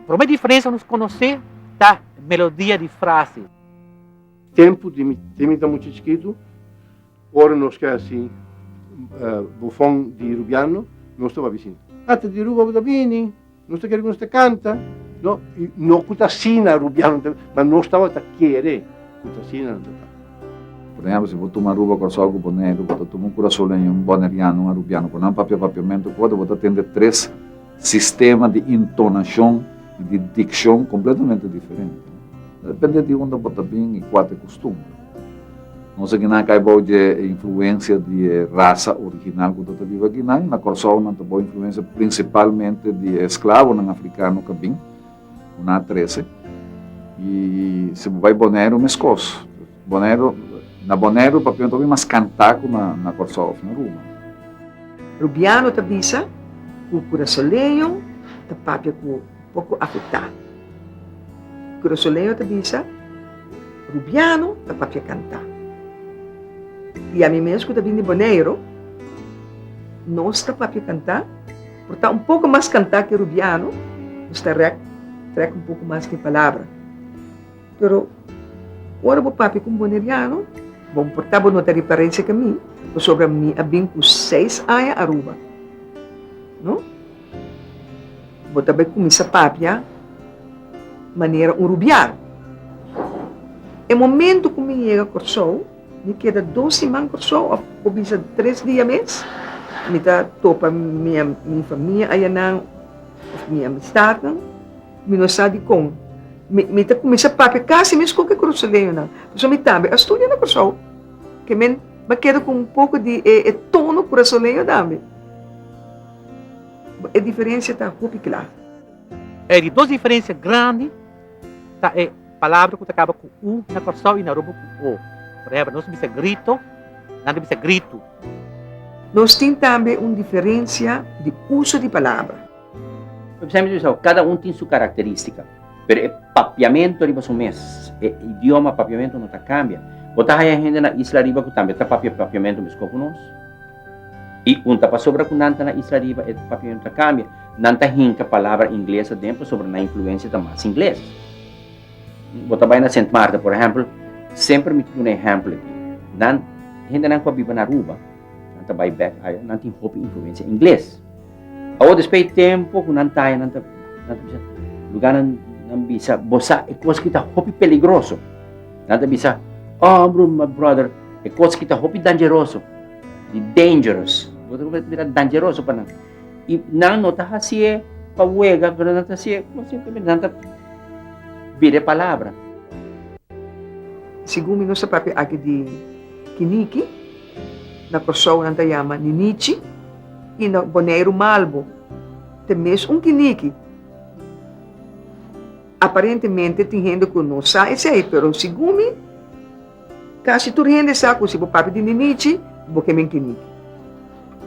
Prome diferensia nos konosé ta melodia di frase. Tempu di mi di mi ta mucha chikitu, ora nos ke hasi bofon di rubiano, nos ta babi sin, Ata di Aruba bo ta bini? Nos ta kere ku nos ta kanta, no, i no ku ta asina Rubiano ta, ma nos tabata kere ku ta asina nan ta ta. Por ehemplo, si bo tuma Aruba, Kòrsou ku Boneiru, bo ta tuma un kurasouleño, un boneriano, un arubiano ku nan papia papiamentu ku otro, bo ta tende tres sistema di intonashon i di dikshon kompletamente diferente. Ta depende di unda bo ta bin i kua ta e kustumber. Nos aki nan kai bou dje e influensia di e rasa original ku ta ta biba aki nan. Na Kòrsou nan ta bou influensia prinsipalmente di e esklavonan afrikano ka bin, ku nan a trese. I si bo bai Boneiru meskos. Boneiru, na Boneiru papia ta bin mas kantá ku na Kòrsou òf na Aruma. Rubiano ta bisa ku kurasoleño ta papia ku. poko afektá. Grosoleo ta bisa, Rubiano ta papia kantá. I ami mes ku ta bin di Boneiro, nos ta papia kantá, por ta un poko mas kantá ke Rubiano, nos ta rèk trèk un poko mas di palabra. Pero ora bo papia ku un boneriano, bon por ta bo no ta referensia ka mi, pasobra mi a bin ku seis aña Aruba. No? Bo ta bai kuminsá papia manera un rubial. E momentu ku mi yega Kòrsou, mi keda dos siman Kòrsou òf bo bisa tres dia mes, mi ta topa mi mi famia ayanan òf mi amistatnan. Mi no sa dikon. Mi mi ta kuminsá papia kasi mes ku ke kòrsouleñonan. Pasobra mi tambe a studia na Kòrsou. Ke men mi a keda ku un poko di e e tono kurasoleño tambe. E diferensia ta hopi kla. E di dos diferensia grandi ta e palabra ku ta kaba ku u na Kòrsou i na Aruba ku o. Por ehèmpel, nos ta bisa grito, nan ta bisa gritu. Nos tin tambe un diferensia di uso di palabra. Por ehèmpel, nos ta bisa kada un tin su karakterístika, pero e papiamentu riba su mes, e idioma papiamentu no ta kambia. Bo ta haya hende na isla ariba ku tambe ta papia papiamentu meskos ku nos. I un ta pasobra ku nan ta na isla riba e papion ta kambia, nan ta hinka palabra ingles aden pasobra nan influensia ta mas ingles. Bo ta bai na Sint Maarten, por ehèmpel, semper mi ta duna ehèmpel aki. Nan, hendenan ku a biba na Aruba, nan ta bai bèk aya, nan tin hopi influensia ingles. Awor desp'e tempu ku nan taya, nan ta nan ta bisa, lugar nan nan bisa, bo sa e kos ki ta hopi peligroso. Nan ta bisa, oh bro, my brother, e kos ki ta hopi dangeroso, di dangerous, bo ta kuminsá mira dangeroso pa nan. I nan no ta hasié pa wega, pero nan ta hasié kos simplemente nan ta bira e palabra. Segun mi no sa papia aki di kiniki. Na Kòrsou nan ta yama ninichi i na Boneiru malbo. Te mes un kiniki. Aparentemente tin hende ku no sa esei, pero segun mi kasi tur hende sa ku si bo papia di ninichi bo ke men kiniki.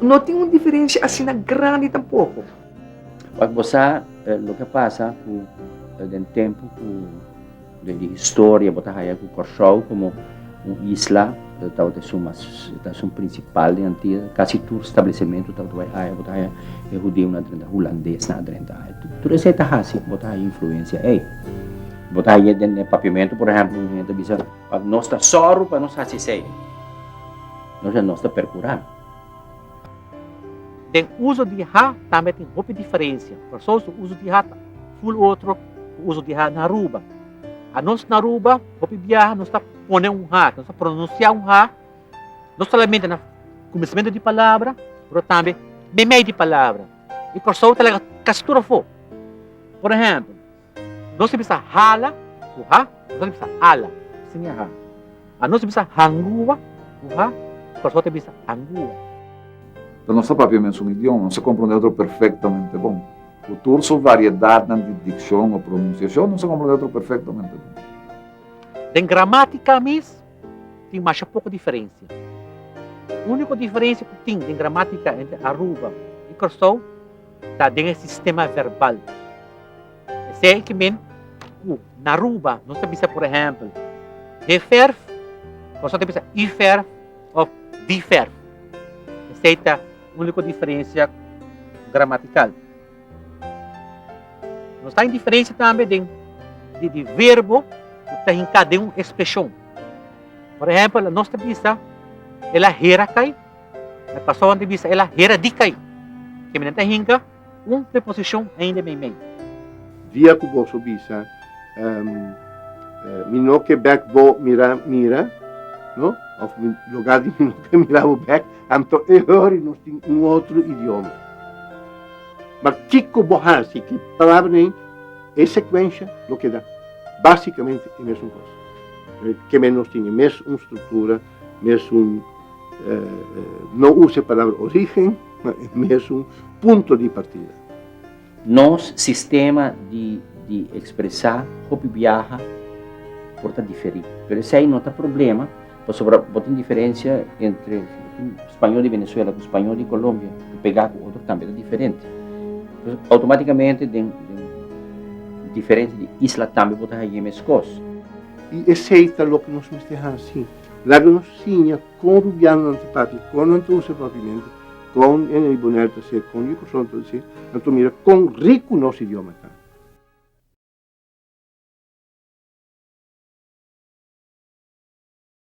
No tin un diferensia asina grandi tampoko. Wak bo sa loke a pasa ku den tempu ku. Den di historia bo ta haya cu Corsou como un isla tabata esun mas ta esun principal den Antia. Casi tur stablecemento tabata bay aya. Bo ta haya e hudeonan adrenta, hulandesnan adrenta aya. Tur esey ta haci bo ta haya influencia ey. Bo ta haya den e papiamento por ehemplo un hende ta bisa nos ta sorro pa nos haci esey. Entonces nos ta percura. Den uso di ha tambe tin hopi diferensia. Por esouso, uso di ha ta full otro ku uso di ha na Aruba. Anos na Aruba, hopi biaha nos ta pone un ha, nos ta pronunsia un ha, no solamente na kuminsamentu di palabra, pero tambe meimei di palabra. I por esou ta laga kasi tur afó. Por ehèmpel. Nos ta bisa hala ku ha, nos no ta bisa ala, si ni ha. A nos ta bisa hangua ku ha, kòrsou ta bisa angua. Pero nos ta papia mesun idioma, nos ta komprondé otro perfektamente bon. Ku tur su variedatnan di dikshon o pronunsiashon, nos ta komprondé otro perfektamente bon. Den gramátika mes tin masha poko diferensia. Úniko diferensia ku tin den gramátika entre Aruba i Kòrsou, ta den e sistema verbal. Esei e ke men ku na Aruba nos ta bisa por ehèmpel he verf, nos no ta bisa u verf òf di verf. Esei ta úniko diferensia gramatikal. Nos ta den diferensia tambe den di verbo ku ta hinká den un espreshon. Por ehèmpel nos ta bisa, El a hera kai. Me pasó anto bisa el a hera di kai. Ke mi nan ta hinka un preposicion ainda meimei. Dia ku boso bisa, Mi no ke bek bo mira mira, no? Of Loga di mi no ke mira bo bek, anto e hori nos tin un otro idioma. Ma kiko bo hasi ku palabra nei, e sekuensha lo keda basikamente e mesun kos. Ke men nos tin e mes un struktura. Mesun no usa e palabra origen, ma e mesun punto di partida. Nos sistema di ekspresá hopi biaha por ta diferí. Pero esei no ta problema, pasobra bo tin diferensia entre spañol di Venezuela ku spañol di Kolombia ku pegá ku otro tambe ta diferente. Outomátikamente den diferente di isla tambe bo ta hañ'é meskos. I esei ta loke nos mester hasi. Laga nos siña kon rubiano nan ta papia, kon nan ta usa papimento, kon e ribonel ta ser, kon e kurson ta ser. Nan ta mira kon riku nos idioma ta.